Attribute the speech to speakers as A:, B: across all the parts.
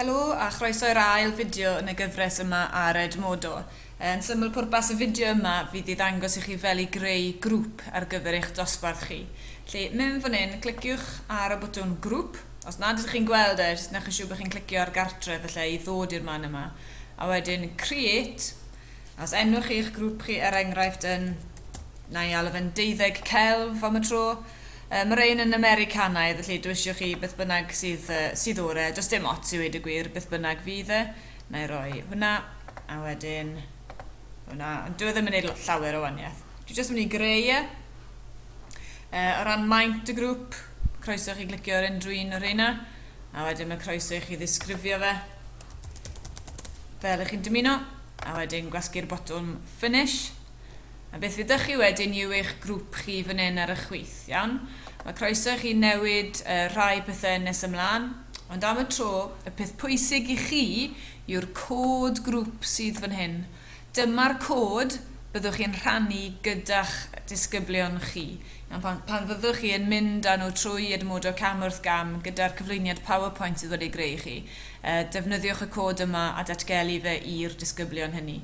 A: Helo a chroeso i'r ail fideo yn y gyfres yma ar Edmodo. Yn syml pwrpas y fideo yma fydd i ddangos i chi fel i greu grŵp ar gyfer eich dosbarth chi. Felly mewn fan hyn, cliciwch ar y botwm grŵp, os nad ydych chi'n gweld e, jyst newch yn siŵr bod chi'n clicio ar gartref felly i ddod i'r man yma, a wedyn create, a os enwch chi eich grŵp chi er enghraifft yn, na i alw fe'n deuddeg celf am y tro, Yy ma rein yn Americanaidd felly dw isio chi beth bynnag sydd yy sydd o'r e, does dim ots i weud y gwir beth bynnag fydd e. Wna i roi hwnna a wedyn hwnna ond dyw e ddim yn neud llawer o waniaeth. Dwi jyst yn mynd i greu e. Yy o ran maint y grŵp croeso i chi glicio ar unrhyw un o rheina a wedyn mae croeso i chi ddisgrifio fe fel ych chi'n dymuno a wedyn gwasgu'r botwm finish. A beth fyddech chi wedyn yw eich grŵp chi fan hyn ar y chwith, iawn? Mae croeso i chi newid rhai pethau nes ymlaen, ond am y tro, y peth pwysig i chi yw'r cod grŵp sydd fan hyn. Dyma'r cod byddwch chi'n rhannu gyda'ch disgyblion chi, iawn, pan fyddwch chi yn mynd â nhw trwy Edmodo cam wrth gam gyda'r cyflwyniad PowerPoint sydd wedi greu i chi. Defnyddiwch y cod yma a datgelu fe i'r disgyblion hynny.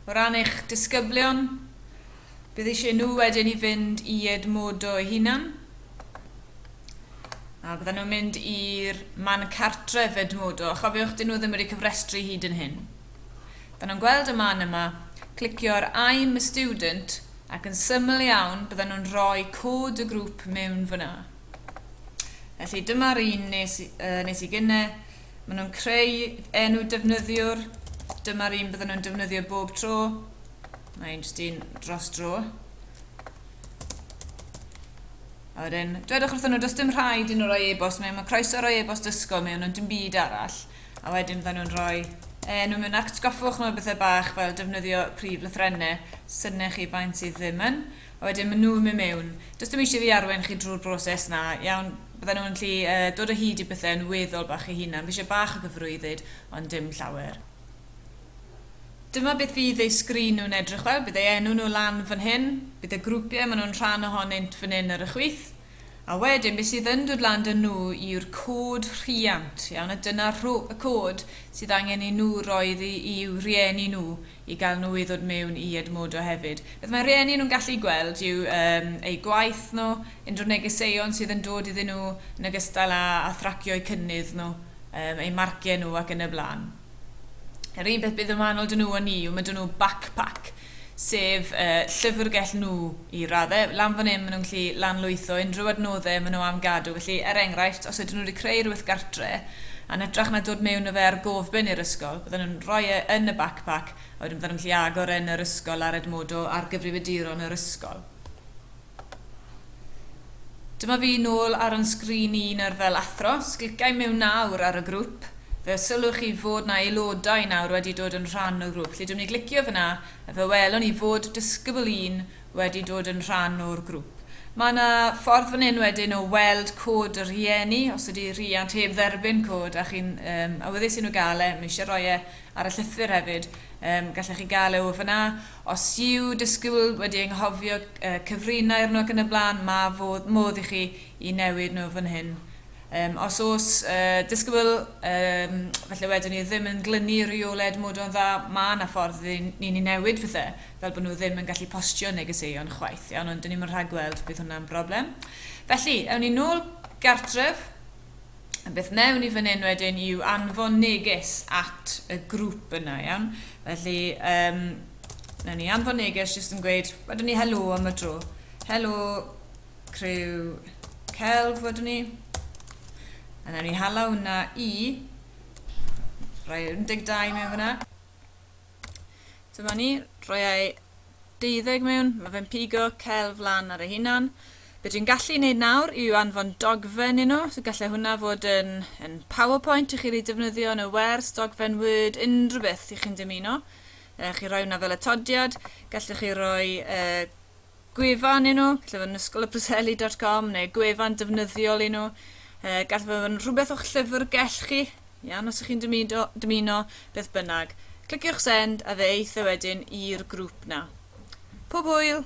A: O ran eich disgyblion, bydd eisiau nhw wedyn i fynd i Edmodo eu hunan, a bydden nhw'n mynd i'r man cartref Edmodo, a chofiwch, dyn nhw ddim wedi cofrestru hyd yn hyn. Bydden nhw'n gweld y man yma, clicio ar I'm a student, ac yn syml iawn bydden nhw'n rhoi cod y grŵp mewn fan'na. Felly dyma'r un nes, uh, nes i gynne. Maen nhw'n creu enw defnyddiwr. Dyma'r un bydden nhw'n defnyddio bob tro. Mae un jyst un dros dro. A wedyn, dwedwch wrthyn nhw, does dim rhaid i nhw roi e-bost mewn, mae croeso roi e-bost ysgol mewn, ond dim byd arall. A wedyn bydden nhw'n rhoi enw mewn atgoffwch nhw bethau bach fel defnyddio prif lythrennau, synnech chi faint sydd ddim yn. A wedyn maen nhw'n mynd mewn. Does dim eisiau i fi arwain chi drwy'r broses 'na. Iawn, bydden nhw'n gallu dod o hyd i bethau'n weddol bach eu hunain. Fi eisiau bach o gyfarwyddyd, ond dim llawer. Dyma beth fydd eu sgrin nhw'n edrych fel. Bydd eu enw nhw lan fan hyn. Bydd y grwpiau maen nhw'n rhan ohonynt fan hyn ar y chwith. A wedyn, beth sydd yn dod lan 'da nhw yw'r cod rhiant. Iawn, a dyna y cod sydd angen i nhw roi i'w rhieni nhw. i gael nhw i ddod mewn i Edmodo hefyd. Beth mae rhieni nhw'n gallu gweld yw eu gwaith nhw, unrhyw negeseuon sydd yn dod iddyn nhw yn ogystal â thracio eu cynnydd nhw, eu marciau nhw ac yn y blaen. Yr un peth bydd yn wahanol 'da nhw a ni yw ma' 'da nhw backpack sef llyfrgell nhw i raddau, lan fan hyn maen nhw'n gallu lanlwytho unrhyw adnoddau maen nhw am gadw, felly er enghraifft os ydyn nhw wedi creu rhywbeth gartre a yn hytrach na dod mewn â fe ar gofbyn i'r ysgol bydden nhw'n rhoi e yn y backpack a wedyn bydden nhw'n gallu agor e yn yr ysgol ar Edmodo ar gyfrifiaduron yr ysgol. Dyma fi nôl ar yn sgrin i nawr fel athro, os glica i mewn nawr ar y grŵp fe sylwch chi fod 'na aelodau nawr wedi dod yn rhan o'r grŵp, felly dwi'n mynd i glicio fan'na Fe welwn i fod disgybl un wedi dod yn rhan o'r grŵp. Mae yna ffordd fan hyn wedyn o weld cod y rhieni, os ydy rhiant heb dderbyn cod a chi'n yym awyddus i nhw gael e, ma' eisiau rhoi e ar y llythyr hefyd, yym gallech chi gael e o fan'na. Os yw disgybl wedi anghofio yy cyfrinair nhw ac yn y blaen, mae fodd modd i chi i newid nhw fan hyn. Yym, os oes yy disgybl, yym, falle wedwn ni, ddim yn glynu rheoled modo'n dda, ma' 'na ffordd i ni ni newid pethe, fel bod nhw ddim yn gallu postio negeseuon chwaith, iawn, ond 'dyn ni'm yn rhagweld bydd hwnna'n broblem. Felly, ewn ni nôl gartref, a beth wnewn ni fan hyn wedyn yw anfon neges at y grŵp yna, iawn. Felly, yym, wnewn ni anfon neges jyst yn gweud, wedwn ni helo am y dro. Helo, criw celf wedwn ni. A newn ni hala hwnna i rhoi 12 mewn fyna. Dyma ni, rhoi ei 12 mewn, mae fe'n pigo celf lan ar ei hunan. Be dwi'n gallu wneud nawr yw anfon dogfen i nhw, so gallai hwnna fod yn, yn PowerPoint i chi wedi defnyddio yn y wers, dogfen Word, unrhyw beth i chi'n dymuno. Uh, chi roi hwnna fel atodiad, gallwch chi roi uh, gwefan i nhw, lle fod yn ysgol y preseli dot com neu gwefan defnyddiol i nhw. E, gall fod yn rhywbeth o'ch llyfrgell chi, iawn, os ych chi'n dymuno, dymuno beth bynnag. Cliciwch send a fe eith e wedyn i'r grŵp na. Pob hwyl!